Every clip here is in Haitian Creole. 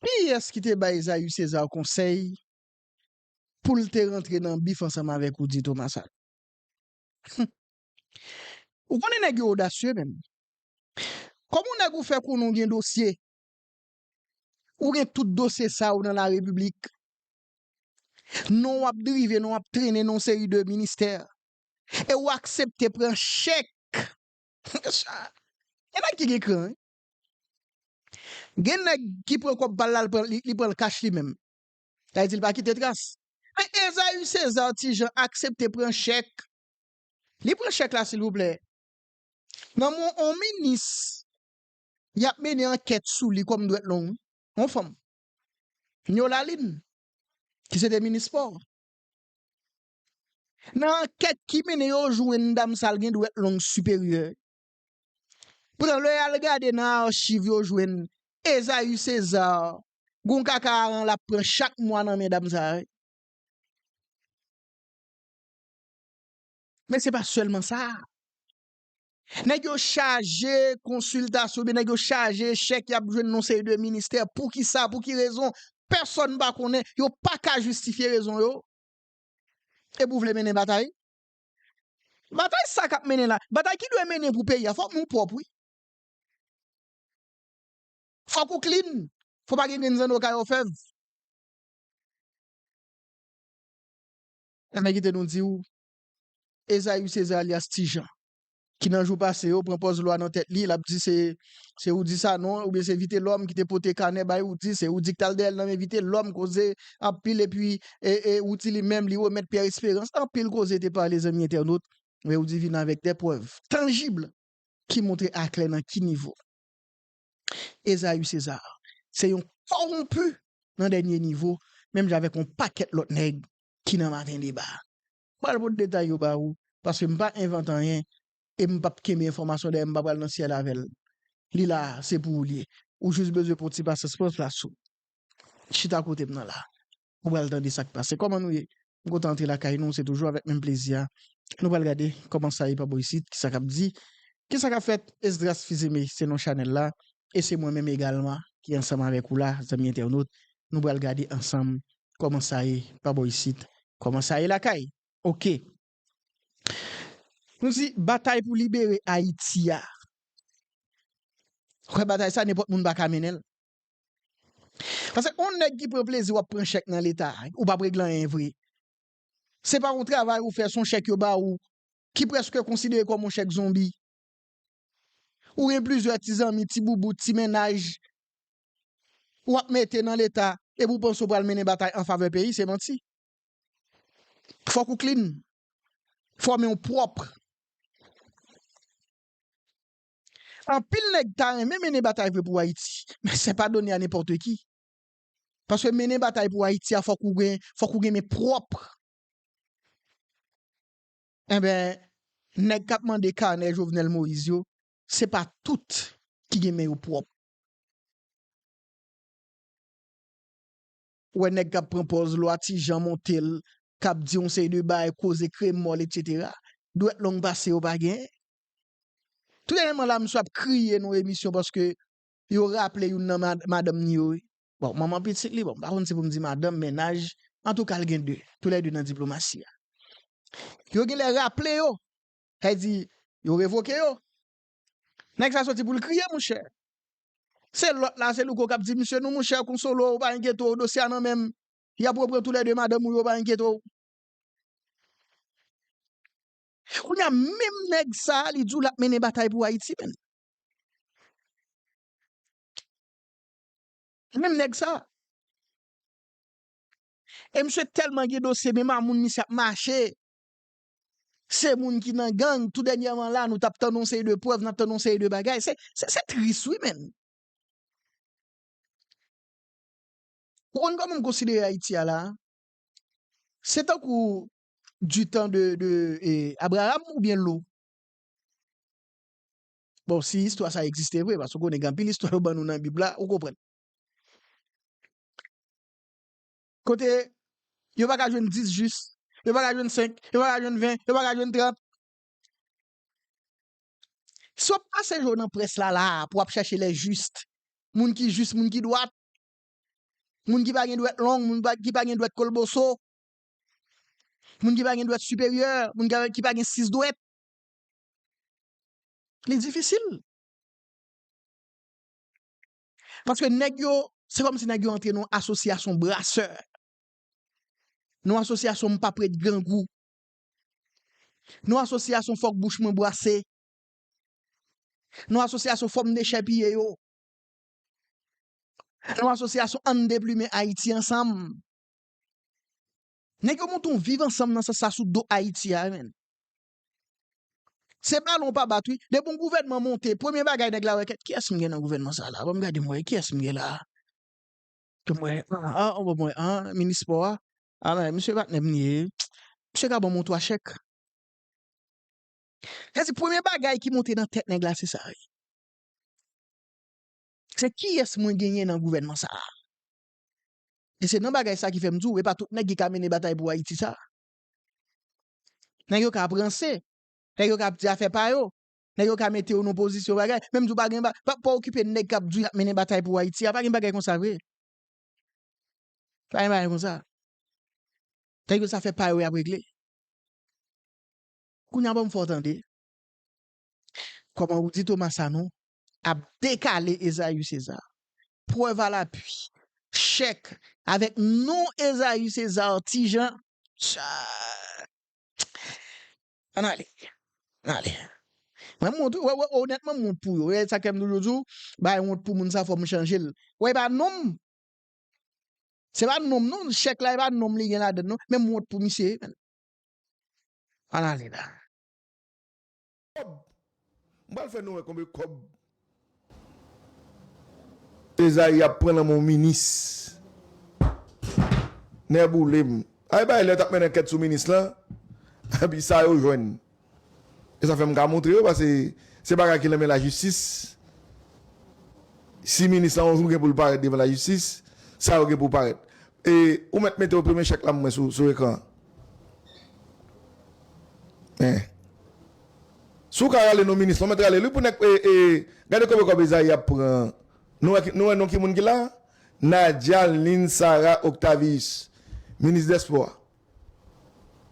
Kiyès ki te bay Zayus César konsèy pou l te rantre nan bif ansanm avèk Rudy Thomas sa? Hum! Ou konnen nèg yo odasye menm. Kòm ou nèg ou fè konnen ou gen dosye, ou gen tout dosye sa yo nan la repiblik, non w ap drive, non w ap trennen nan yon seri de ministè, e ou aksepte pran chèk, hum! Sa, gen nèg ki gen kran wi. Gen nèg ki pran kòb pal la li pranl kach li menm. Sa vle di li pa kite tras. Men Esaü Cesar ti Jean aksepte pran chèk. Li pran chèk la silvouplè. Nan men yon minis yap mennen ankèt sou li kòm dwèt long. Yon fanm. Nyo Lalin ki se te minis spò. Nan ankèt ki mennen yo jwenn dam sa l gen dwèt long siperyè. Poutan lè yal gade nan archiv yo jwenn Esaü Cesar gon kaka aran lap pran chak mwa nan men dam sa wi. Men se pa sèlman sa, nèg yo chaje konsiltasyon oubyen nèg yo chaje chèk yap jwenn nan yon seri de ministè poukisa pou ki rezon pèsòn pa konnen yo paka jistifye rezon yo epi ou vle mennen batay Batay sa kap mennen la, batay ki dwe mennen pou peyi a fok nou pwop wi. Fok ou clean, fok pa gen grenn zanno kay òfèv. Enben kite nou diw Esaü Cesar alyas Tijan. ki nan jou pase yo pran pòz lwa nan tèt li, l ap di se se Roudy Sanon oubyen se Vitelòm ki te pote kanè bay Roudy, se Roudy ki t al dèyè l nan men Vitelòm, koze anpil epi e e Roudy li menm li remèt Pierre Espérance, anpil koze te pale zanmi entènot, men Roudy vin avèk de prèv tanjib ki montre aklè nan ki nivo Esaü César se yon kowonpi nan dènye nivo menm jan avèk yon pakèt lòt nèg ki nan maten deba. M pral pot detay yo ba ou, paske m pa envante anyen e m pap kenbe enfòmasyon dèyè m, m pa pral nan syèl avè l. Li la a, se pou ou l ye. Ou jis bezwen pon ti pasyans, pran plas ou. Chita kote m nan la a. Ou pral tande sa k pase. Kòman nou ye? M kontan antre lakay nou, se toujou avèk menm plezi a. Nou pral gade kòman sa ye pa bò isit, kisa k ap di, kisa k ap fèt. Esdras Fils-Aimé se non chanèl la e se mwen menm egalman ki ansanm avèk ou la, zanmi entènot. Nou pral gade ansanm Kòman sa ye pa bò isit? Kòman sa ye lakay? Ok. Nou di batay pou libere Ayiti a. Ou wè batay sa nenpòt moun pa ka mennen l. Pase on nèg ki pran plezi w ap pran chèk nan leta a, ou pa p regle anyen vre. Se pa on travay ou fè, se on chèk yo ba ou ki prèske konsidere kòm on chèk zonbi. Ou gen plizyè ti zanmi, ti boubout, ti mennaj ou ap mete nan leta epi ou panse ou pral mennen batay an favè peyi, se manti. Fòk ou klin, fò men ou pwòp. Anpil nèg ta renmen mennen batay vre pou Ayiti, men se pa done a nenpòte ki. Paske mennen batay pou Ayiti a fòk ou gen, fòk ou gen men pwòp. Enben, nèg k ap mande kanè Jovenel Moïse yo, se pa tout ki gen men yo pwòp. Ou wè nèg k ap pran pòz Lwa Ti Jan monte l, k ap di yon seri de bagay, koze kremòl etsetera. Dwèt long pase yo pa gen. Tout dènyèman la misye ap kriye nan yon emisyon paske yo raple youn nan madanm ni yo wi. Bon, manman pitit li, bon, m pa konn si pou m di madanm, mennaj, antouka l gen de, tou lè de nan diplomasi a. Yo gen lè raple yo, sa vle di, yo revoke yo. Nèg sa soti pou l kriye, monchè. Se lòt la, se Louko k ap di misye, non monchè, konsolo, pa enkyete w, dosye a nan men m, y ap repran tou lè de madanm ou yo, pa enkyete w. Kounye a, menm nèg sa a, li di w l ap mennen batay pou Ayiti menm. Se menm nèg sa. E misye tèlman gen dosye men mamoun misye ap mache. Se moun ki nan gang tou dènyèman la nou tap tann yon seri de prèv nap tann yon seri de bagay. Se tris wi menn. Ou konn kòman m konsidere Ayiti a la a? Se tankou du tan de Abraham oubyen Lou? Bon, si istwa sa egziste vre, paske ou konnen gen anpil istwa yo ban nou nan Bib la, ou konprann. Kote yo pa ka jwenn dis jis, yo pa ka jwenn senk, yo pa ka jwenn ven, yo pa ka jwenn trant. Si w ap pase jou w nan près la la a pou w ap chèche lè jis, moun ki jis, moun ki dwat, moun ki pa gen dwèt long, moun ki pa gen dwèt kolboso, moun ki pa gen dwèt siperyè, moun ki pa gen sis dwèt, Li difisil. Paske nèg yo, se kòm si nèg yo antre nan yon asosyasyon brasè. Nan yon asosyasyon m pap ret grangou. Nan yon asosyasyon fòk bouch mwen bwase. Nan yon asosyasyon fò m dechèpiye yo. Nan yon asosyasyon ann deplimen Ayiti ansanm. Nèg yo monte yon viv ansanm nan sans sa sou do Ayiti a menn. Se balon ou pa bat wi. Depi yon gouvènman monte, premye bagay nèg la wè kèt kiyès m gen nan gouvènman sa la? Bon m gade m wè kiyès m gen la a? Ke m wè a, an bon m wè an, minis spò a, a men misye patnè m li ye. Misye ka ban m yon 3 chèk. Sa se premye bagay ki monte nan tèt nèg la se sa wi. Se kiyès mwen genyen nan gouvènman sa a? E se nan bagay sa ki fè m di w e pa tout nèg ki ka mennen batay pou Ayiti sa a. Nèg yo ka ap ranse, nèg yo ka ap di afè pa yo, nèg yo ka mete yo nan pozisyon bagay, menm di w pa gen ba, pa pa okipe nèg k ap di w y ap mennen batay pou Ayiti a, pa gen bagay konsa vre. Pa gen bagay konsa. Nèg yo se afè pa yo y ap regle. Kounye a ban m fè w tande. Kòman Rudy Thomas Sanon ap dekale Esaü César? Prèv a lapui, chèk avèk non Esaü César Ti Jean Charles. Ann ale. Ann ale. Mwen wont wi. Wè, onètman m wont pou yo. E sa k fè m toujou di w, bay wont pou moun sa fò m chanje l. Wè e pa non m. Se pa non m non. Chèk la e pa non m li gen ladan l non. Men m wont pou misye wi menn. Ann ale la. Kob M pral fè nou wè konbe kob Ezayi ap pran nan men yon minis Nèboulem Ay bay lè tap mennen ankèt sou minis lan Epi sa yo jwenn E sa fèm ka montre yo pase se bagay ki nan men lajistis Si minis lan yon jou gen poul parèt devan lajistis sa yo gen pou parèt E ou mèt mete yo premye chèk la m wè sou ekran an. Eh. Si w ka rale non minis, mwen mèt rale l wi pou nèg e e gade kobe kòb Ezayi ap pran nou wè nou wè non ki moun ki la a? Nadia Lynn Sarah Octavius minis dèspò a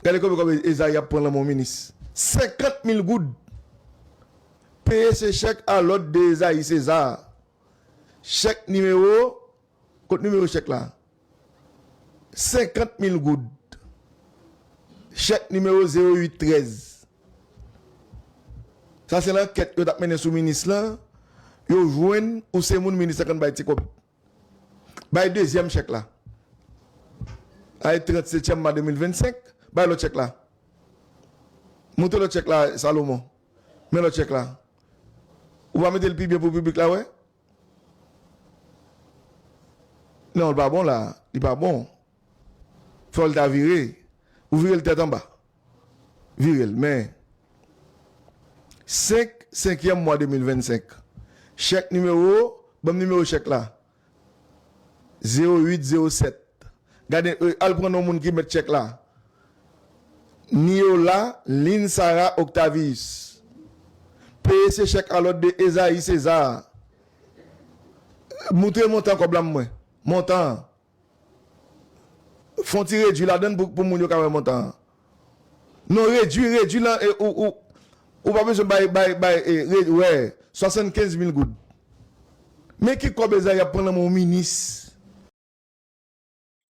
gade kobe kòb Ezayi ap pran lan men w minis 50 mil goud peye se chèk alòd de Ezayi Cesar chèk nimewo Kot nimewo chèk la? 50 mil goud. Chèk nimewo 08 13. Sa se lankèt yo tap mennen sou minis lan, yo jwenn ou se moun minis lan konn bay ti kòb. Bay dezyèm chèk la. Ay 30 setyèm ma 2025, bay lòt chèk la. Montre lòt chèk la Salomon. Men lòt chèk la. Ou pa mete l pi byen pou piblik la wè? Non l pa bon la li pa bon fòl ta vire ou virel tèt anba virel men 5 senkyèm mwa 2025 chèk nimewo banm nimewo chèk la 08 07 gade al pran non moun ki mèt chèk la Niola Lynn Sarah Octavius peye se chèk alòd de Esaïe César moutre montan kòb la m wè montan an fon ti redwi ladan l pou moun yo ka wè montan an non redwi redwi lan ou pa bezwen bay bay bay wè 75 mil goud men ki kòb Esaïe ap pran lan men yon minis.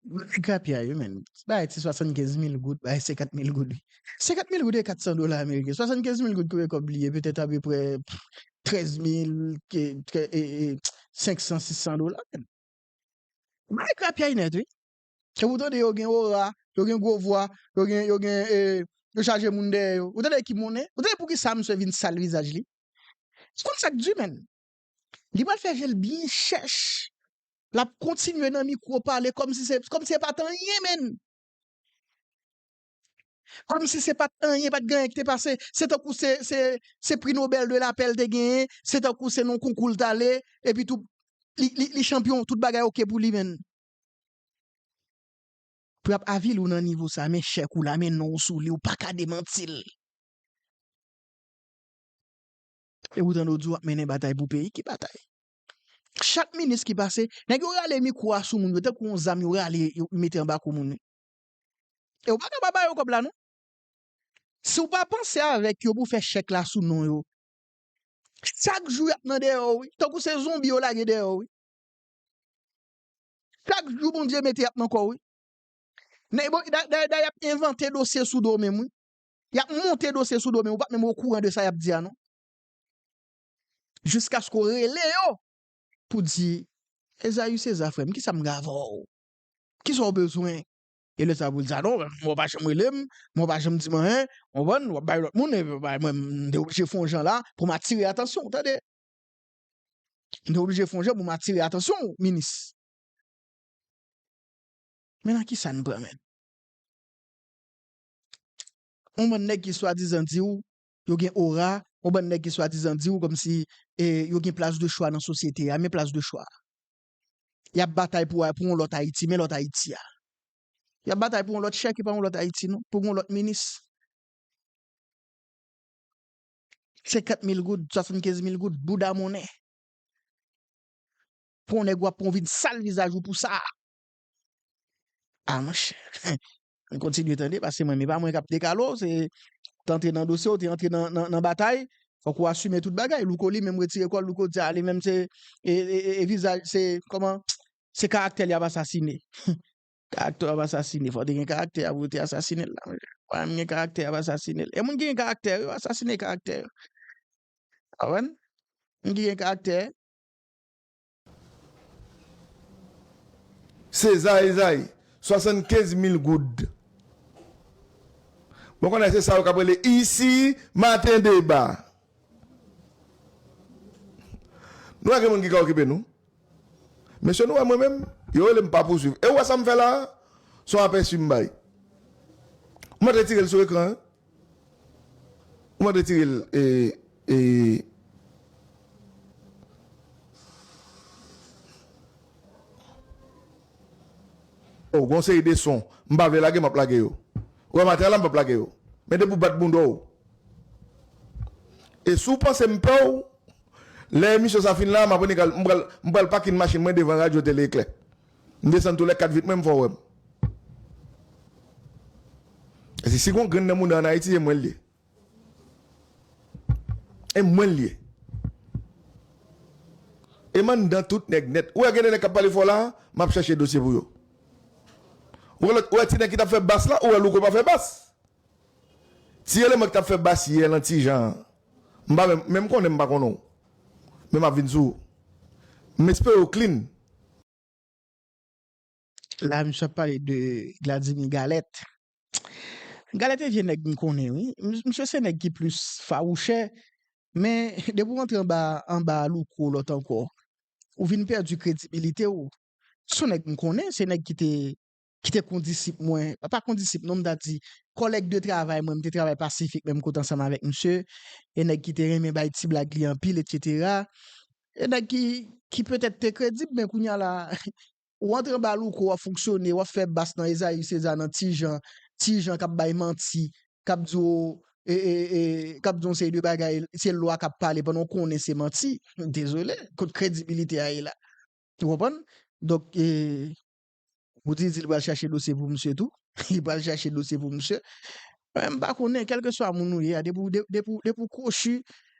Ti grapyay wi menn. Bay ti 75 mil goud, bay 50 mil goud. 50 mil goud e 400 dola ameriken. 75 mil goud kouye kòb li ye petèt apeprè 13 mil ke e 500, 600 dola menn. Bay grapyay nèt wi. Kèm ou tande yo gen ora, yo gen gwo vwa, yo gen, yo gen e, yo chaje moun dèyè yo. Ou tande ki monnen? Ou tande poukisa misye vin sal vizaj li? Ou konn sak di menn. Li pral fè je l byen chèch. L ap kontinye nan mikwo pale kòm si se kòm si e pa t anyen menn. Kòm si se pa t anyen, pa t gen anyen ki te pase. Se tankou se se se pri Nobèl de lapè l te genyen. Se tankou se nan yon konkou l t ale. Epitou li li li chanpyon, tout bagay oke pou li menn. Pou y ap avili w nan nivo sa a, men chèk ou la, men non w sou li, ou pa ka demanti l. E poutan Dodou ap mennen batay pou peyi, ki batay? Chak minis ki pase, nèg yo rale mikwo a sou moun yo tankou yon zam yo rale yo mete anba kou moun. E ou pa ka pa ba yo kòb la non. Si ou pa panse avèk yo pou fè chèk la sou non yo, chak jou y ap nan deyò ou wi, tankou se zonbi yo lage deyò ou wi. Chak jou Bondye mete y ap nan kò ou wi. Nèg bon, dayè y ap envante dosye sou do w menm wi. Yap monte dosye sou do men ou pap menm okouran de sa yap di a non. Jiskaske ou rele yo pou di Ezayu Seza frè m kisa m gen avè w? Kisa w bezwen? E lè sa pou l di a non mwen ou pa janm rele m, mwen ou pa janm di m anyen, ou konprann, wap bay lòt moun e bay mwen m te oblije fè yon jan la pou m atire atansyon w tande. M te oblije fè yon jan pou m atire atansyon w minis. Men nan kisa n pran menm? yon bann nèg ki swadizan di w yo gen ora, yon bann nèg ki swadizan di w kòmsi yo gen plas de chwa nan sosyete a. Men plas de chwa a. Y ap batay pou yon lòt Ayiti. Men lòt Ayiti a. Y ap batay pou yon lòt chè ki pa yon lòt Ayiti non. Pou yon lòt minis. Senkant mil goud, swasannkenz mil goud, bouda monnen. Pou yon nèg w ap pran w vin sal vizaj ou pou sa a. Ah monchè, mwen kontinye tande paske mwen, e pa mwen kap dekale w, se te antre nan dosye w, te antre nan batay, fòk ou asime tout bagay. Louko li menm retire kò l, Louko di a li menm se e vizaj, se kòman, se karaktè l yap asasine. Karaktè w ap asasine, fòk te gen karaktè a pou yo te asasine l la monchè. Pa menm gen karaktè yap asasine l. E moun ki gen karaktè yo, yo asasine karaktè yo. Ou konprann? Moun ki gen karaktè. César Esaïe, 75 mil goud. Mwen konnen se sa yo k ap rele isi maten deba. Nou wè gen moun ki ka okipe nou? Mesye nou wè mwen menm, yo rele m pa pouswiv. E ou wè sa m fè la a? Se yon apèsi m bay. M retire l sou ekran an. Ou pa retire l ee. Oh gon seri de son m pa vle lage map lage yo ou wè matè a la m pap lage yo men depi w bat bounda w e si w panse m pè w lè emisyon sa fin la m pral pakin machin mwen devan radyo tele eklè. M desann tou lè 4 vit mwen m fè w wè m. Paske si gon grenn nan mouda an Ayiti e mwen l ye. E mwen l ye. E m anndan tout nèg nèt. Ou wè gen de nèg k ap pale fò la a, m ap chèche dosye pou yo. Ou wè lòt, ou wè ti nèg ki t ap fè bass la, ou wè Louko pa fè bass. Ti eleman ki tap fè bass yè lan ti jan an m pa menm menm konnen m pa konnen w men map vin sou ou m espere w clean. La misye ap pale de gladimi galèt galèt e vye nèg m konnen wi misye se nèg ki plis fawouchè men depi w antre anba anba louko lòt ankò ou vin pèdi kredibilite w se yon nèg m konnen se nèg ki te ki te kondisip mwen, pa kondisip non m ta di kòlèg de travay mwen, m te travay pasifik menm kote ansanm avèk misye, e nèg ki te renmen bay ti blag li anpil etsetera, e nèg ki ki petèt te kredib men kounya la ou antre anba louko w ap fonksyone, w ap fè bas nan Ezayi Seza nan Ti Jan, Ti Jan k ap bay manti, k ap di w e e e k ap di w yon seri de bagay se lwa k ap pale pandan w konnen se manti, dezole kot kredibilite a ye la ou konprann donk e. Moody di li pral chache dosye pou misye tou. Li pral chache dosye pou misye. Mwen m pa konnen, kèlke swa moun ou ye a, depi w, depi w, depi w kwochi,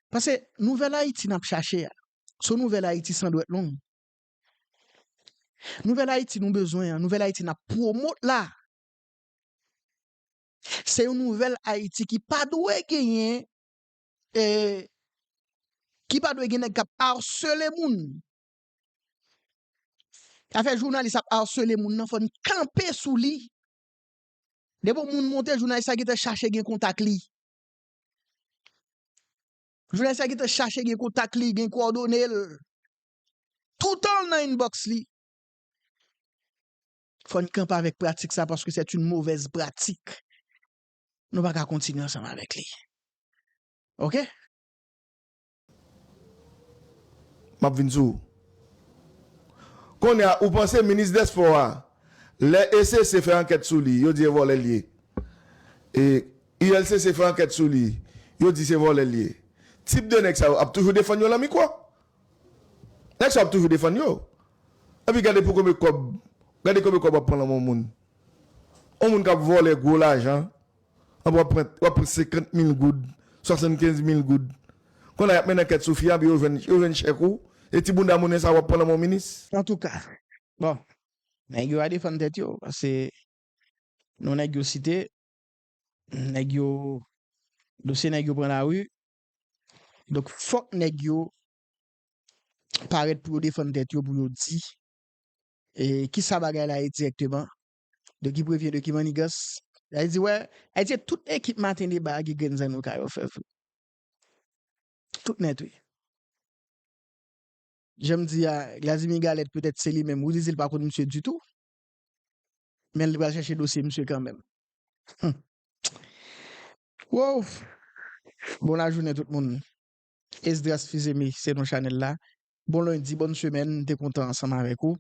pase nouvèl Ayiti n ap chache a, se yon nouvèl Ayiti san dwèt long. Nouvèl Ayiti nou bezwen an, nouvèl Ayiti n ap pwomot la, se yon nouvèl Ayiti ki pa dwe genyen, ki pa dwe gen nèg k ap arsele moun. Afè jounalis ap arsele moun nan fòn kanpe sou li. Depi yon moun monte jounalis la gentan chache gen kontak li. Jounalis la gentan chache gen kontak li, gen kòdone l. Toutan l nan inbox li. Fòn kanpe avèk pratik sa paske sèt yn movèz pratik. Nou pa ka kontinye ansanm avèk li. Ok. M ap vin sou ou. Kounye a, ou panse minis dèspò a, lè ECC fè ankèt sou li, yo di e vòlè l ye? E ULCC fè ankèt sou li, yo di se vòlè l ye. Tip de nèg sa yo ap toujou defann yo lan mikwo? Nèg sa yo ap toujou defann yo. Epi gade pou konbe kòb, gade konbe kòb w ap pran lan men yon moun. Yon moun k ap vòlè gwo lajan. An wap pran wap pran 50 mil goud 75 mil goud konn a yap mennen ankèt sou fi a epi yo jwenn yo jwenn chèk ou e ti bounda moune sa wap pran nan men yon minis. Antouka bon nèg yo a defann tèt yo pase non nèg yo site nèg yo dosye nèg yo pran lari donk fòk nèg yo parèt pou yo defann tèt yo pou yo di e kisa bagay la ye dirèkteman De ki prevyen de ki mannigas. Yay di wè, yay di tout ekip maten deba a gen grenn zanno ka yo fè vre. Tout nèt wi. Janm di a, Glazimir Galette petèt se li menm, Willy di l pa konn misye ditou. Men li pral chache dosye misye kanmenm. Humm. Woww! Bon lajounen tout moun. Esdras Fils-Aimé se non chanèl la. Bon lendi, bòn semèn, m te kontan ansanm avèk ou.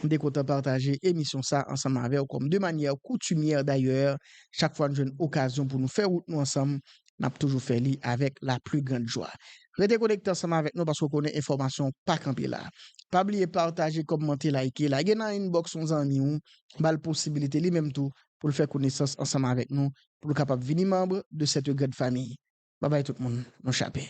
M te kontan pataje emisyon sa ansanm avèw kòm de manyè koutumyè dayè chak fwa n jwenn okazyon pou nou fè wout nou ansanm n ap toujou fè li avèk la pli grand jwa. Rete konekte ansanm avèk nou paske w konnen enfòmasyon pa kanpe la. Pa bliye pataje, kòmante, layke, lage nan inbox yon zanmi w, ba l posibilite li menm tou pou l fè konesans ansanm avèk nou pou l kapab vini manb de sète grand famiy. Babay tout moun, nou chape.